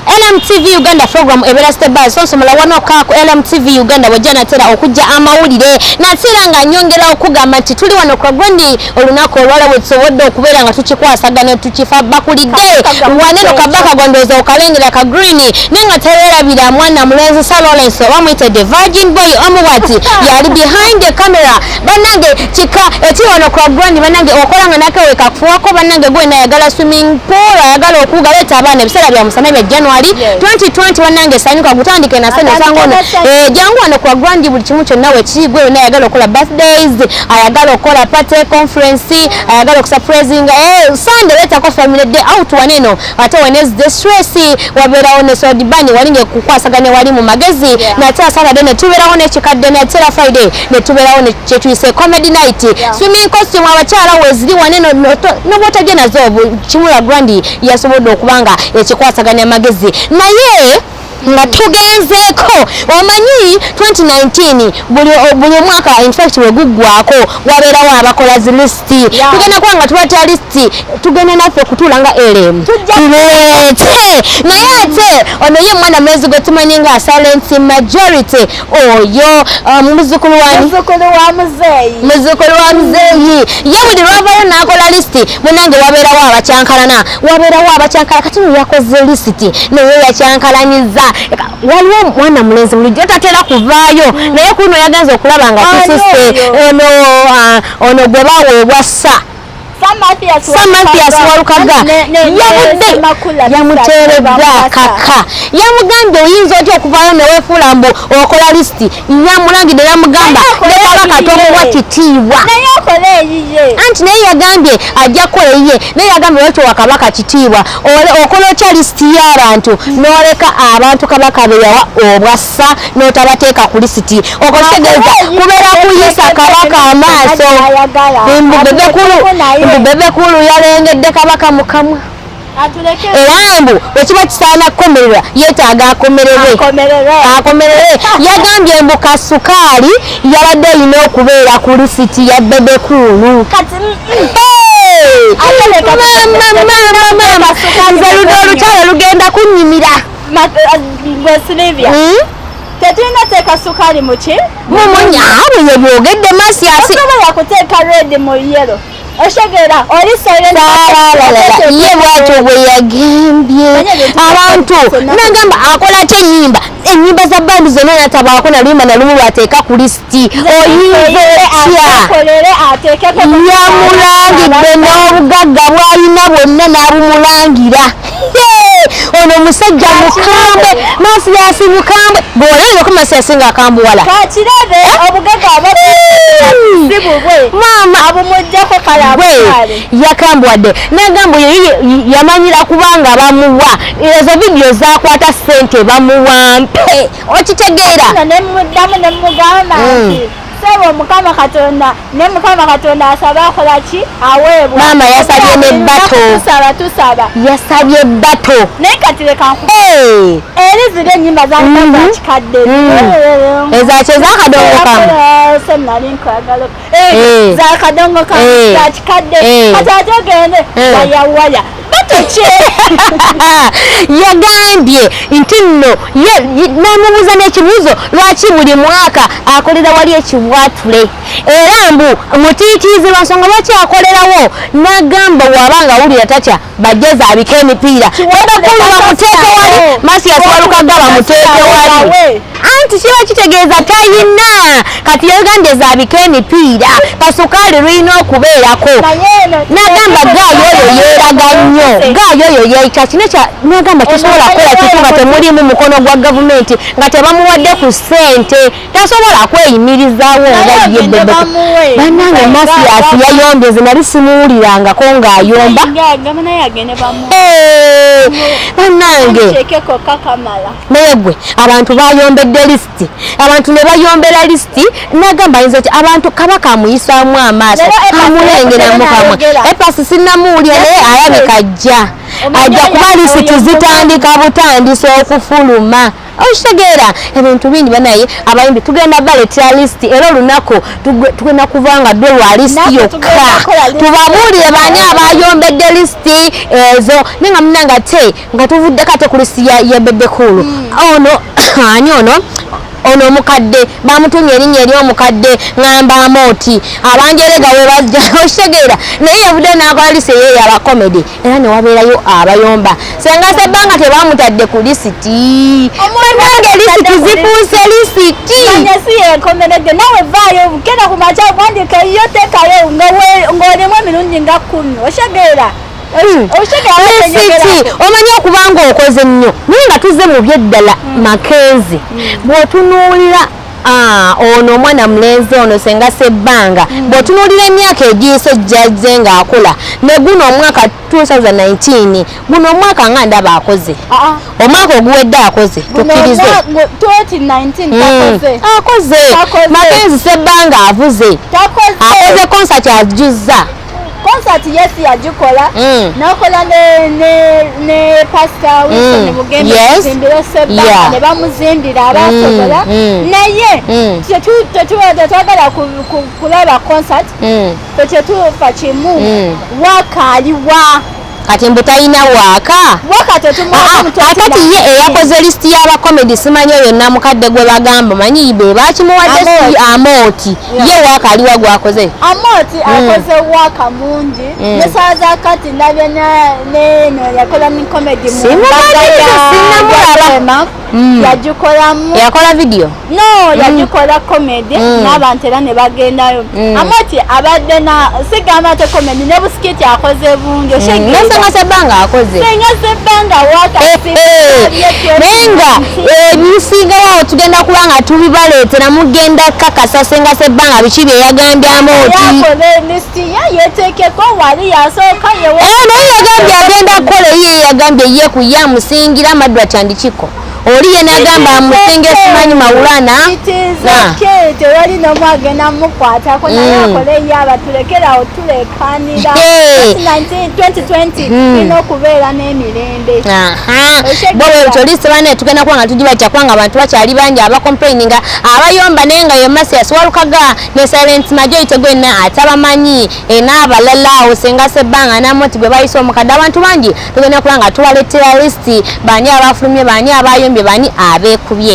LMTV Uganda program ebera stable so nsomola wano ka ku LMTV Uganda bwejja natera okujja amawulire natera nga nyongera okugamba nti tuli wano kwa gwandi olunaku olwala wetusobodde okubeera nga tukikwasagana ne tukifa bakulidde waneno kabaka gwandoza okalengera ka green naye nga tewerabira mwana mulenzi Sir Lawrence oba muyite the virgin boy omuwati yali behind the camera banange kika ekiri wano kwa gwani banange okola nga nakewe kakufuwako banange gwena ayagala swimming pool ayagala okuga leeta abaana ebiseera bya musana bya january 2020 banange sanyuka gutandike na sene osanga ono eh, jangu wano kwa gwandi buli kimu kyonna wekiri gwe yona ayagala okola birthdays ayagala okola party conference ayagala okusurprising eh, sunday leetako family day out waneno ate wenezde stress wabeerawo ne sodibani wali ngekukwasaganya wali mu magezi nate asatade netubeerawo nekikadde natera friday netubeerawo kyetuyise comedy night swimming costume abakyala weziri wane nobwotagenazo kimula grandi yasobodde okuba nga ekikwasaganya magezi naye nga tugenzeeko omanyi 2019 buli buli omwaka in fact weguggwako wabeerawo abakola zi lisiti tugenda kuba nga tubatya lisiti tugenda naffe okutuula nga elemu tuleete naye ate ono ye omwana mwezi gwe tumanyi nga silent majority oyo ah, muzukulu wamuzukulu wa muzeeyi muzukulu wa muzeeyi ye buli lwavayo nakola lisiti munange wabeerawo abakyankalana wabeerawo abakyankala kati yakoze lisiti naye yakyankalanyiza waliwo mwana mulenzi bulijjo tatera kuvaayo hmm. naye kuno yagenza okulaba nga tusise ah, ono gwe baweebwa sa Samathias Walukaga yavudde yamuteeredda kaka yamugambye oyinza otya okuvaayo newefuula mbu okola lisiti yamulangidde yamugamba nekabaka tomuwa kitiibwa anti naye yagambye ajja kukola eyiye naye yagambye lwaki wakabaka kitiibwa okola otya lisiti y'abantu noleka abantu kabaka beyawa obwa bassa n'otabateeka ku lisiti okitegeeza kubeera kuyisa kabaka amaaso mbubebekulu yalengedde kabaka mukamwa era mbu wekiba kisaana kukomererwa yetaaga akomererwe akomererwe yagambye mbu kasukaali yabadde erina okubeera ku lisiti ya bebekuulu nze ludo olukyalo lugenda kunyimira Silivia. Mm? Tetulina teeka sukaali mu ki? Mumunya abo ye byogedde Masiasi. Osobola yakuteeka red mu yellow. Oshegera oli silent. Ye bwatyo bwe yagembye abantu nagamba akola kye nyimba enyimba za bandi zonna natabaako nalimba nalumu lwateeka ku list kati oyinza otya yamulangidde n'obugagga bwalina bwonna n'abumulangira ono musajja mukambwe masiyasi mukambwe bwolengeko masiyasi nga akambuwala yakambuwadde nagamba yamanyira kubanga bamuwa ezo vidiyo zakwata sente bamuwampe okitegeera Nno ne mmuddamu ne mmugamba Mm. nti sebo mukama katonda ne mukama katonda asaba akola ki aweebwa Maama yasabye ne bato. tusaba tusaba yasabye bato naye kati leka nku Hey! eri ziri ennyimba zalina Mhm. zakikadde Mm. ezakyo ezakadongokamu senali nkwagala eh. za kadongo ka eh. za kikadde eh. kati ate ogende wayawaya batokye yagambye nti nno namubuuza n'ekibuuzo lwaki buli mwaka akolera wali ekibwatule era mbu mutiitiizi lwansonga lwaki akolerawo nagamba waaba nga awulira tatya bajjeza abika emipiira ebakulu bamuteeke wali masiyasi walukagga bamuteeke wali anti kiba kitegeeza tayina kati yayoganda ezabika emipiira kasukaali lulina okubeerako nagamba gaayo oyo yeeraga nnyo gaayo oyo yekya kino kya nagamba tesobola kukola kitu nga temulimu mukono gwa gavumenti nga tebamuwadde ku ssente tasobola kweyimirizaawo nga ye banange masiyasi yayondeze nali simuwulirangako ng'ayomba banange naye gwe abantu bayombedde lisiti abantu ne bayombera lisiti nagamba yinza ti abantu kabaka amuyisaamu amaaso amulengeramu kamwe epasi sinamuwulira naye alabika ajja ajja kuba lisiti zitandika butandisa okufuluma okitegeera ebintu bingi banaye abayimbi tugenda baletera lisiti era olunaku tugenda kuva nga dwe lwa lisiti yokka tubabuulire baani abayombedde lisiti ezo naye nga munanga te nga tuvuddeko ate ku lisiti yebedekulu hmm. ono ani ono ono omukadde bamutumye erinnya eri omukadde ngamba amooti abanjerega webajja okitegeera naye evude nakola lisi eyeyo abakomedi era newabeerayo abayomba senga sebbanga tebamutadde ku lisiti banange lisiti zifuuse lisiti si yenkomeredde nawe vaayo genda ku makya wandika yo tekayo ng'olimu emirundi nga kumi oshegeera hmm. lisiti omanyi okuba nga okoze nnyo naye nga tuzze mu byeddala hmm. makenzi hmm. bw'otunuulira Ah, ono omwana mulenzi ono senga sebbanga mm. bwotunuulira emyaka egiyise jjazze ng'akola ne guno omwaka 2019 guno omwaka nga ndaba akoze ah, ah. omwaka oguwedde akoze tukkirize mm. akoze makenzi sebbanga avuze akoze konsati ajuzza concert yes yagikola mm. nakola ne ne ne pastor Wilson mm. Mugembe yes. zimbira sebba yeah. ne bamuzimbira mm. abasobola mm. mm. naye mm. tetu tetu twagala kulaba concert mm. tetu fachimu mm. wakaliwa kati mbu talina waaka ah, ah, kati ye eyakoze lisiti y'abakomedi simanyi oyo namukadde gwe bagamba manyi be bakimuwadde si amooti ye waaka aliwa gwakoze amooti hmm. akoze waaka mungi hmm. nesaa za kati nabyo neno yakola ni komedi sinamulaba mm. yagikolamu yakola video no mm. yagikola mm. comedy mm. n'abantu era ne bagendayo mm. amati abadde na sigamba te comedy ne busikiti akoze bungi oshengasenga mm. sebbanga akoze senga sebbanga wakasiyenga eh, eh. ebisingalawo eh, tugenda kuba nga tubibaleetera mugenda kakasa senga sebbanga biki bye yagambyamu oti tiye yetekeko wali yasooka yewe eh, naye yagambye agenda kukola ye yagambye ye ku ye amusingira amaddu akyandikiko oli ye nagamba amusinga simanyi mawulana tewali nomu agenda mukwatako naye mm. akole ye abatulekerawo tulekanira ina okubeera n'emirembe bwebwetyolisibana tugenda kuba nga tugibatya kubanga abantu bakyali bangi abakomplaininga abayomba naye nga yemasiya siwalukaga ne silent majority gwenna atabamanyi e, n'abalala awo senga sebbanga namoti gwe bayise omukadde abantu bangi tugenda kuba nga tuwalettera lisiti baani abafulumye baani abayombye baani abeekubye